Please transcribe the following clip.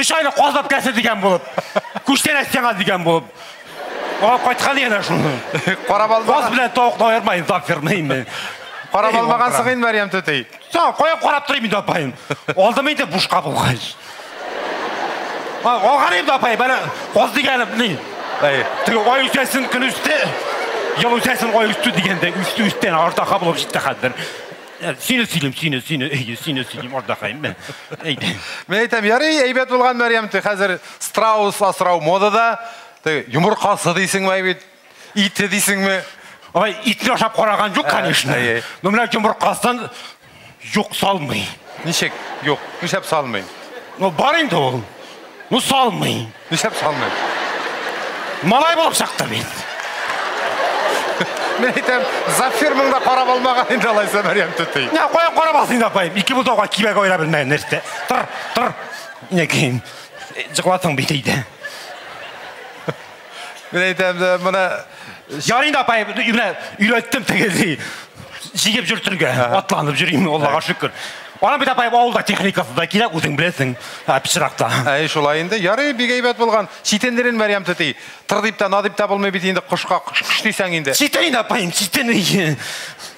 Өч айлык калдап кәсе дигән булып. Күчтән әстеңә дигән булып. Аңа кайткан янә шуны. Карап алма. Каз белән тавыкны аермайын, так фермый инде. Карап алмагансың инде Мәрьям түти. Та, кая карап торыйм инде апаем. Алдым инде бушка булгач. Алган инде апай, бәлә каз дигән ни. Әй, теге ай үсәсен көн үсте. Ел үсәсен ай үсте дигәндә, үсте үстән артаха булып җитте хәзер. Э, сине сөйлим, сине, сине, әйе, сине сөйлим, ардакаем. Әйдә. Мен әйтәм, ярый, әйбәт булган Мәрьям, ты хәзер страус асрау модада. Ты йомыркасы дисеңме бит? Ите дисеңме? Ай, итне ашап караган юк, конечно. Ну, менә йомыркасын юк салмый. Ничек? Юк, нишләп салмый? Ну, бар инде ул. Ну салмыйм. Нишләп салмыйм? Малай булып чыктым мин. Мен әйтәм, Зафир монда карап алмаган инде алайса Мәрьям түти. Я каян карап алсын инде апаем. Ике бутауга кибәк айра белмәгән нәрсә. Тор, тор. Инәкәем, җыклатың бит әйдә. Мин әйтәм дә, моны Ярый да апай, менә өйрәттем тегелди. Җигеп йөртергә, атланып йөрим, Аллага шөкер. Ана бит апай авылда техникасы да кирәк, үзең беләсең, пычракта. Әй, шулай инде. Ярый, бик әйбәт булган. Читендерен Мәрьям түти. Тыр дип тә, на дип тә булмый бит инде кошка. Кыш-кыш дисәң инде. Читен инде апаем, читен.